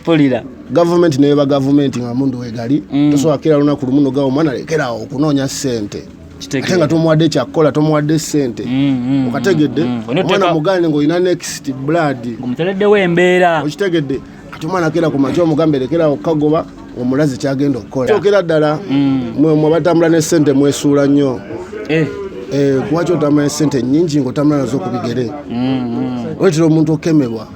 pulira gavumenti neba gavumenti nga mundu wegali mm. tosobola kira lunaku lumu nogawa omwana lekerawo okunoonya sente ate nga tomuwadde kyakukola tomuwadde sente mm, mm, mm, okategedde omwana mugane ngaolina next blood omutereddewo embeera okitegedde kati omwana kera ku makya omugambe lekerawo okukagoba omulazi kyagenda okukola kyokera ddala mwe abatambula ne sente mwesuula nnyo eh. Eh, kuba kyotambula ne sente nyingi ngaotambula nazo okubigere wetera omuntu okemebwa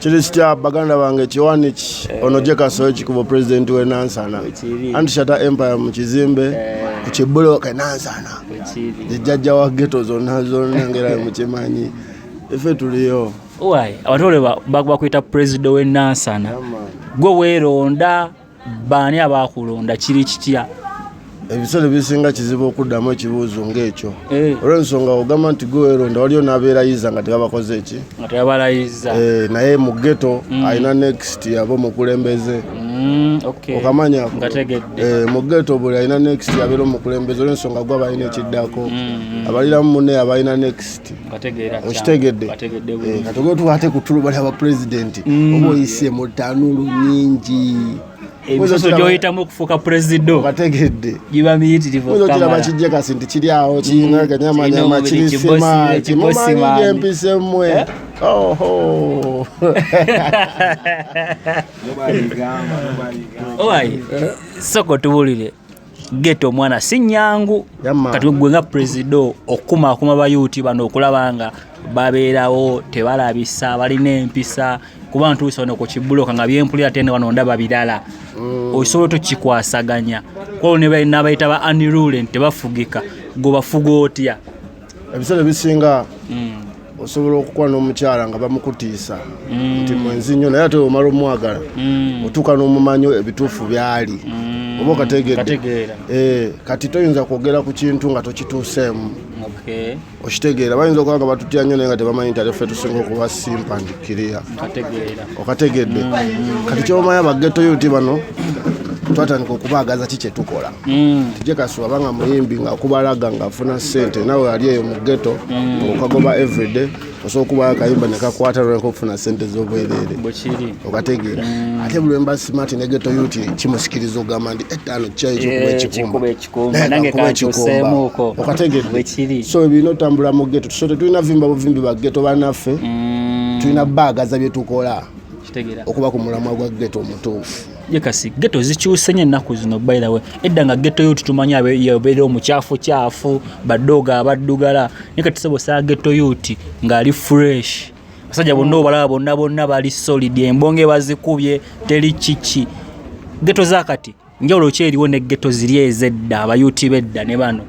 kiri kitya baganda bange kiwaniki eh. ono gye kasoyo ekikubo pulezidenti w'e nansana anti shata empire mu kizimbe eh. ku kibuloka e nansana ejjajja wa geto zonna zonengerayo mukimanyi ife tuliyo abantu bakwita pulezidenti w'e nansana gwe weeronda baani abaakulonda kiri kitya ebiseera ebisinga kizibu okuddamu ekibuuzo ng'ekyo eh. olw'ensonga ogamba nti gweweronda waliyo n'abeerayiza nga tebabakoze eki nga tebabalayiza eh, naye mu geto mm. alina next aba omukulembeze mm, okamanya eh, mu geto buli alina next abeera omukulembeze olw'ensonga gwe abalina ekiddako mm, abaliramu munne abalina next okitegedde eh, kati ogenda tukwate ku tulu bali aba pulezidenti mm. oba oyise mu tanuulu nyingi emisoso gyoyitamu okufuuka puleziddo bategedde giba miyitirivuokiraba kijja kasi nti kiri awo kiyina mm. ganyamanyama kirisima kimumanyi gyempisemwe eh? oho owaye soko tubulire geto omwana si nyangu kati gwe nga presido okukumaakuma bayuuti bano okulaba nga babeerawo tebalabisa balina empisa kuba ntuusa wano ku kibuloka nga byempulira tene wano ndaba birala mm. osobola tokikwasaganya kwao nabayita ba anirule nti tebafugika gwebafuga otya ebiseera ebisinga mm. osobola okukuba n'omukyala nga bamukutiisa mm. nti mwenzi nnyo naye ate omala omwagala mm. otuuka n'omumanyo ebituufu byali mm. oba okategedde eh, kati toyinza kwogera ku kintu nga tokituuseemu okitegeera bayinza okuba nga batutya nnyo naye nga tebamanyi nti atefe tusinga okuba simpandikiriya okategedde kati kyomanya bageto yuti bano twatandika okubaagaza ki kyetukola Mm. tije kaswaba nga muyimbi nga kubalaga nga afuna sente nawe ali eyo mu ghetto mm. okagoba everyday osobola okuba akayimba nekakwata lweka okufuna sente zobwerere okategeera mm. ate buli wemba smart ne ghetto yut kimusikiriza ogamba nti etaano eh, kyayi kyokuba ekikumbaekikumba okategeera so ebirina otambula mu ghetto so tetulina vimba buvimbi ba ghetto banaffe tulina baagaza byetukola okuba ku mulamwa gwa ghetto omutuufu ye kasi geto zikyuse nyo ennaku zino by the way edda nga geto yuti tumanyi yabeera omukyafu kyafu badooga abaddugala naye kati sebo saa geto yuti ng'ali fresh basajja bonna mm. obalaba bonna bonna bali solid embonge bazikubye teri kiki geto zakati njawulo ki eriwo ne geto ziri ezedda abayuti bedda ne bano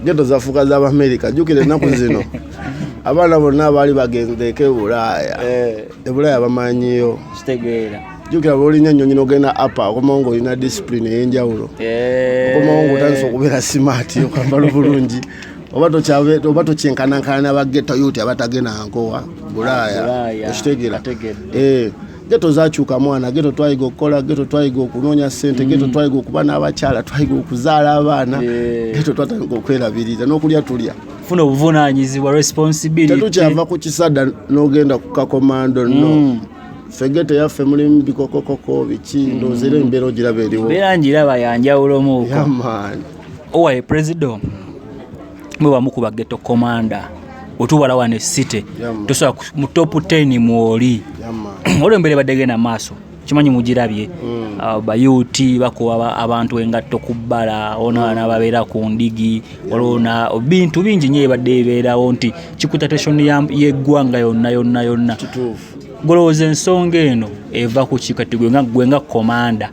geto zafuuka z'abamerika jjukira ennaku zino abaana bonna baali bagenzeeko ebulaaya eh. ebulaaya bamanyiyo kitegeera jukira bwolinya nyonyi nogenda apa okomawo nga olina discipline eyenjawulo eh. okomawo nga otandisa okubeera simaati okwambala obulungi oba tokyenkanankana nabageta yuti abatagenda nkowa bulaaya ah, okitegera eh, geto zakyuka mwana geto twayiga okukola geto twayiga okunoonya sente geto mm. twayiga okuba n'abakyala twayiga okuzaala abaana eh. geto twatandika okwerabirira n'okulya tulya funa obuvunanyizibwa responsibility tetukyava ku kisada nogenda ku kakomando no mm. fegete yaffe mulimu bikokokoko biki mm. ndowooza era embeera ogiraba eriwo mbeera ngiraba yanjawulomuuko owaye presido mwe bamu ku bageto komanda otubala wano esite tosobola mu top 10 mwoli olwo embeera ebadegenda maaso kimanyi mugirabye mm. ah, bayuti bakuba abantu engatto ku bbala onaana mm. babeera ku ndigi olwona bintu bingi nyo ebadde ebeerawo nti kikutateshon yeggwanga yonna yonna yonna golowooza ensonga eno eva ku kikati gwe nga komanda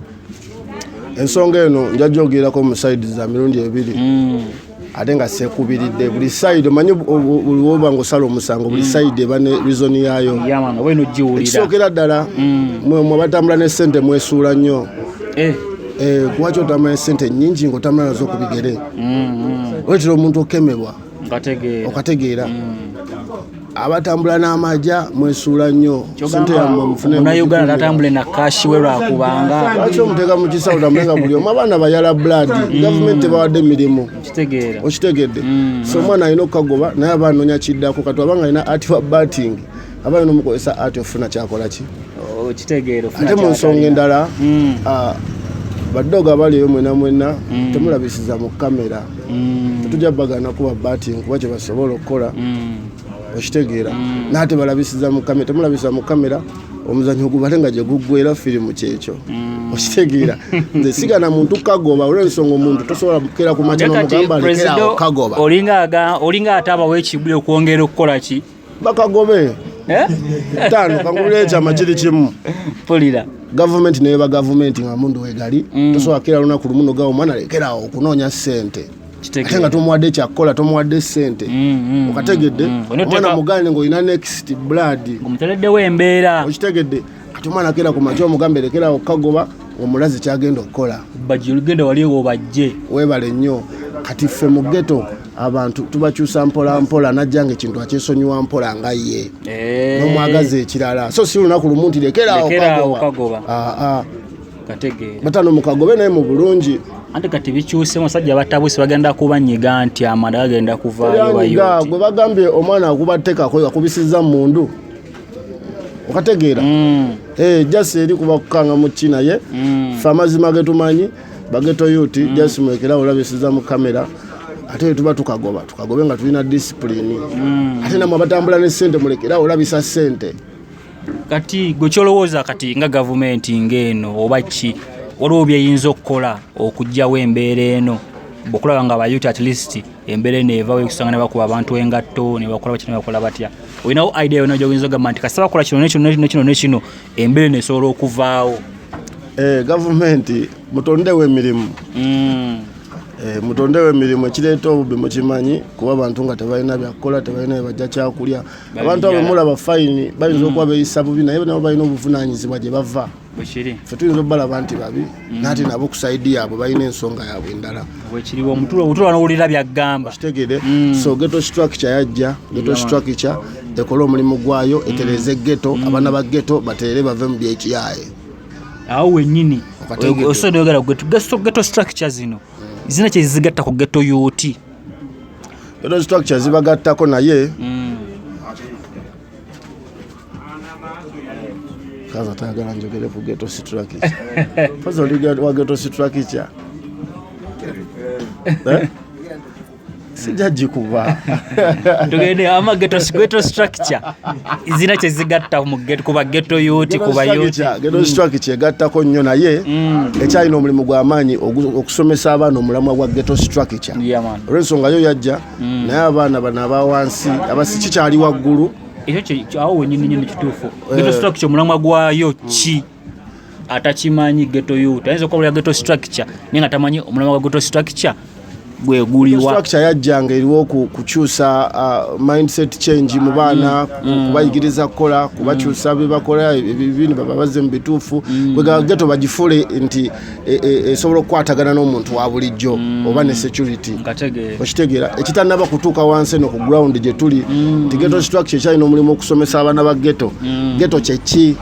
ensonga eno njajogirako mu saidi za mirundi ebiri hmm. ate nga sekubiridde buli saidi omanyi oba nga osala omusango buli hmm. saidi eba ne rizoni yaayo ekisookera ddala hmm. mwe abatambula ne sente mwesuula nnyo eh. Eh, kuba kyotambula ne sente nyingi ngaotambula nazo ku bigere wetira omuntu okemebwa okategeera abatambula n'amaja mwesuula nnyo munauganda tatambule na kashi we lwakubanga lwaki omuteeka mu kisawo tamuleka buli omu abaana bayala blood mm. gavumenti tebawadde mirimu okitegedde mm. so omwana alina okukagoba naye aba anonya kiddako kati abanga alina ati wa batting abaana nomukozesa ati ofuna kyakola ki oh, kitegeero ate mu nsonga endala mm. ah, baddogo abaliyo mwena mwena mm. temulabisiza mu kamera mm. tetujja bagana kuba bati nkuba kyebasobola okukola okitegeera naye tebalabisiza mu kamera temulabisiza mu kamera omuzanyo ogubale nga gyeguggwera firimu kyekyo mm. okitegeera nze sigana muntu kagoba olwensonga omuntu tosobola kera kumakya nomugamba lekerawo kagoba olinga ate abawo ekibuli okwongera okukola ki bakagobe eh? tano kangulira ekyama kiri kimu pulira gavumenti neba gavumenti nga mundu wegali mm. tosobola kira lunaku lumu nogawa omwana lekerawo okunoonya sente ate nga tomuwadde ekyakukola tomuwadde ssente mm, mm, mm, okategedde omwana mugane ngaolina next blood okitegedde kati omwana kera ku makya omugambe lekera okukagoba omulazi kyagenda okukola bagenda wali ewo bajje webale nnyo kati ffe mu geto abantu tubakyusa mpola mpola najja nga ekintu akyesonyiwa mpola nga ye eh. nomwagaza ekirala so si lunaku lumu nti lekera okagoba ah, ah. batano mukagobe naye mu bulungi anti kati bikyuse musajja batabuse bagenda kubanyiga nti amanda gagenda kuvaayo gwe bagambye omwana akubatekako yakubisiza mundu okategeera mm. eh, jasi eri kuba kukanga muki naye mm. fe amazima getumanyi bageto yuti mm. jasi mulekerawo olabisiza mu kamera ate tuba tukagoba tukagobe nga tulina disipulini ate namwe abatambula ne sente mulekerawo olabisa sente kati gwe kyolowooza kati nga gavumenti ngaeno oba ki waliwo byeyinza okukola okugyawo embeera eno bwekulaba nga abayuti at least embeera eno evawo ekusanga ne bakuba abantu engatto ne bakola batya ne bakola batya olinawo idea yona gyoyinza ogamba nti kasita bakola kino nekino nekino nekino embeera eno esobola okuvaawo eh, gavumenti mutondewo emirimu mm. eh, mutondewo emirimu ekireeta obubbi mukimanyi kuba abantu nga tebalina byakukola tebalina bebajja kyakulya abantu abo mulaba fayini bayinza mm. okuba beyisa bubi naye nabo balina obuvunaanyizibwa gye bava bwekiri fe tuyinza obalaba nti babi mm. nati nabo ku saidi yaabwe balina ensonga yaabwe endala bwekiriwo omutulo obutulo anowulira byagamba kitegede mm. so geto structure yajja geto structure ekole omulimu gwayo mm. etereze geto abaana ba geto baterere bave mu byekiyaye awo wenyini osobola oyogera geto structure zino zina kyezigatta ku geto yoti geto structure zibagattako naye kaza tayagala njogere ku geto sitrakica faza oli wa geto sitrakica eh? sijajikuba tugende ama geto geto structure zina kyezigatta kuba geto yuti kuba yuti geto mm. structure egattako nnyo naye mm. ekyalina omulimu gw'amaanyi okusomesa abaana omulamwa gwa geto structure olw'ensonga yo yajja mm. naye abaana bano abawansi abasikikyali waggulu ekyo awo wenyini nyini kituufu eh. geto structure omulamwa gwayo ki atakimanyi geto yut ayinza okubulira geto structure naye nga tamanyi omulamwa gwa geto structure gweguliwastructure yajjanga eriwo kukyusa uh, mindset change mu baana mm. mm. kubayigiriza kukola kubakyusa mm. byebakola ebibini bababazze mu bituufu bwegageto bagifule nti e, e, esobola e, okukwatagana n'omuntu wa bulijjo mm. oba ne security okitegeera ekitanaba kutuuka wansi eno ku ground gye tuli mm. nti geto structure ekyalina omulimu okusomesa abaana ba geto mm. geto kyeki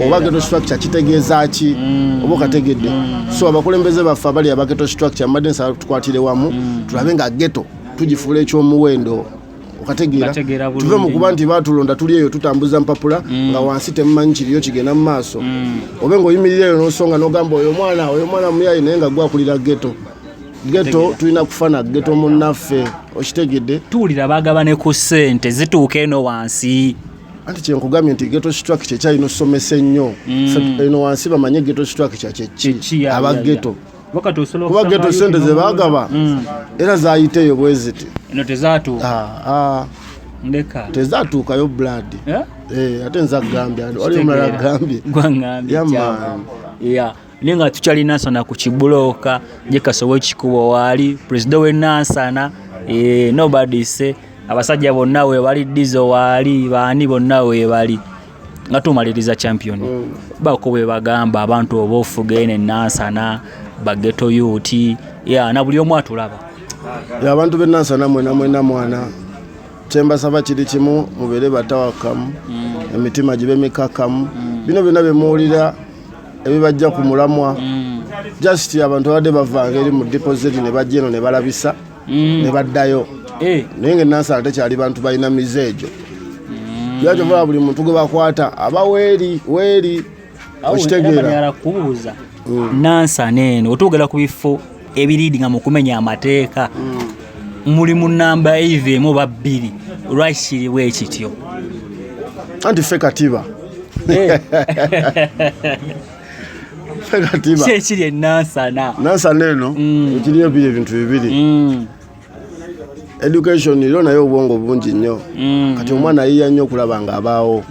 oba geto structure kitegeeza ki mm. oba okategedde mm. so abakulembeze baffe abali aba geto structure mbadde nsaba tukwatire wamu mm. tulabe nga geto tugifuula ekyomuwendo okategeera tuve mu kuba nti baatulonda tuli eyo tutambuza mpapula mm. nga wansi temumanyi kiriyo kigenda mu maaso mm. obe ngaoyimirira eyo nosonga nogamba oyo omwana oyo omwana muyayi naye nga gwakulira geto geto tulina kufana geto munnaffe okitegedde tuwulira bagabane ku ssente zituuka eno wansi anti kyenkugambye nti geto strak kyekyalina osomesa ennyo mm. eno wansi bamanye geto strak kyakyeki aba geto kuba geto sente zebagaba mm. era zayiteyo bweziti ah, ah. tezatuukayo blood eh? Eh, ate nza gambya wali omulala gambye naye nga tukyali nansana ku kibulooka jekasobola ekikuba waali pulezida wenansana eh, nobadise abasajja bonna webali dizo waali baani bonna webali nga tumaliriza champion mm. bako bwe bagamba abantu oba ofuga eno enansana bageto yuti ya na buli omu atulaba abantu benansana mwena mwena mwana kyembasaba kiri kimu mubeere batawakamu mm. emitima gibe mikakamu mm. bino byonna byemuwulira ebibajja ku mulamwa mm. just abantu babadde bavanga eri mu dipoziti ne bajja eno ne balabisa mm. ne baddayo eh. naye nga enansala tekyali bantu balina mize egyo mm. lwaki oba buli muntu gwe bakwata aba weeri weeri okitegeera kubuuza mm. nansana eno otuugera ku bifo ebiriidinga mu kumenya amateeka muli mu namba eiva emu oba bbiri lwaki kiriwo ekityo anti ffe katiba eh. kyekiri enansana nansana eno mm. ekiriyo biri ebintu bibiri mm. education ilo naye obwongo bungi nnyo mm. kati omwana yiya nnyo okulaba nga abaawo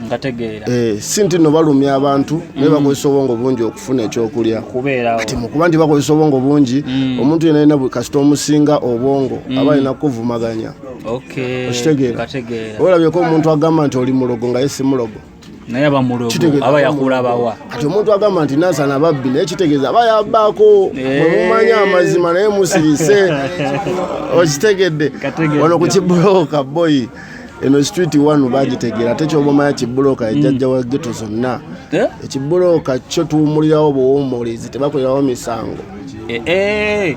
eh, si nti no balumya abantu naye bakozesa obwongo bungi okufuna ekyokulya kati mukuba nti bakozesa obwongo bungi omuntu yena yena kasita omusinga obwongo aba alina kukuvumaganya okitegeera olabyeko omuntu agamba nti oli mulogo nga ye si mulogo naye aba mulogo aba yakula bawa kati omuntu agamba nti nansana babbi naye kitegeeza aba yabbaako eh. mwemumanya amazima naye musirise okitegedde wano ku kibulooka boyi eno street one bagitegeera ate kyobamanya kibulooka ejajja wa geto zonna eh? ekibulooka kyo tuwumulirawo buwumulizi tebakolerawo misango eh,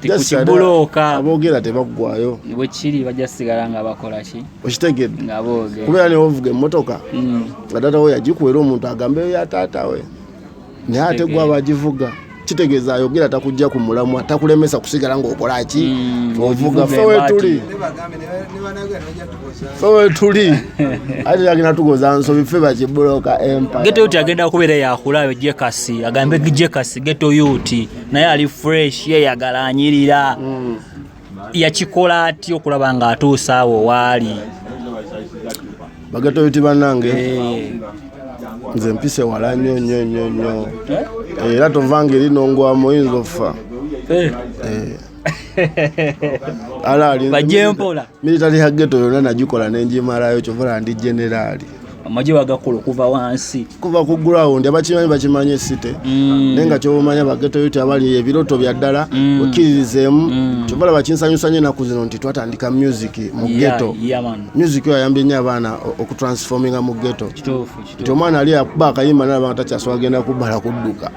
tikukibulooka aboogera tebaggwayo bwe kiri bajja sigala nga bakola ki okitegedde nga boogera kubeera ne ovuga emmotoka mm. nga taata we yagikuwera omuntu agambeyo ya taata we naye ate gwe aba agivuga kitegeeza ayogera takujja ku mulamwa takulemesa kusigala ng'okola ki mm, ovuga fe wetuli fe wetuli ate agenda tugoza nsobi fe bakibuloka empagetoyuti agenda kubeera yakula ayo jekasi agambe jekasi getoyuti naye ali fresh yeyagala anyirira mm. yakikola atya okulaba nga atuusa awo waali bagatoyiti banange eh. nze mpise wala nyo nyo nyo nyo eh? era tovanga eri nongwamu oyinza offa eh. ala ali bajempola Military ya ghetto yona najikola nenjimalayo kyovola ndi generali. Amaje wagakola okuva wansi. Kuva ku ground abakimanyi bakimanye city. Mm. Nenga kyobumanya ba ghetto yote abali ebiroto bya ddala mm. okirizemu. Mm. Kyovola bakinsanyusa nyo naku zino nti twatandika music mu ghetto. Yeah, yeah, man. Music yo ayambye nyo abaana okutransforminga mu ghetto. Kitufu. nti omwana ali akuba akayimba nalaba nga takyasooka agenda kubbala kudduka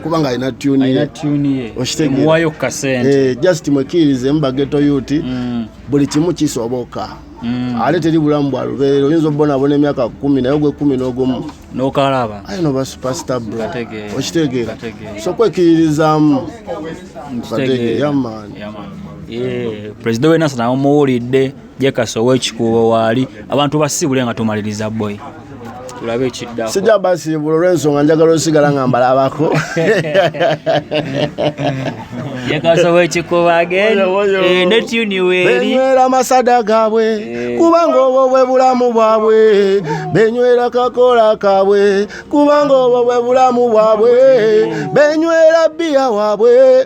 kubanga alina tuni okitegewayo kukasente eh, just mwekkiririzemu bageto yuti mm. buli kimu kisoboka mm. ate teri bulamu bwa lubeerera oyinza obubonabona emyaka kumi naye ogwekumi n'ogumu nokalaba aye noba supasita bro okitegeera so kwekkiririzaamu kategeera yamaani pulezida wenasa nawe muwulidde jekasa owekikuubo waali abantu basiibule nga tumaliriza boy tulabe ekiddako sijja basiibula olw'ensonga njagala osigala nga mbalabako jekasa owekikuubo ageni eh, netuniweeribenywera amasada gaabwe eh. kubanga obwo bwe bulamu bwabwe benywera kakola kaabwe kubanga obwo bwe bulamu bwabwe benywera bbiya waabwe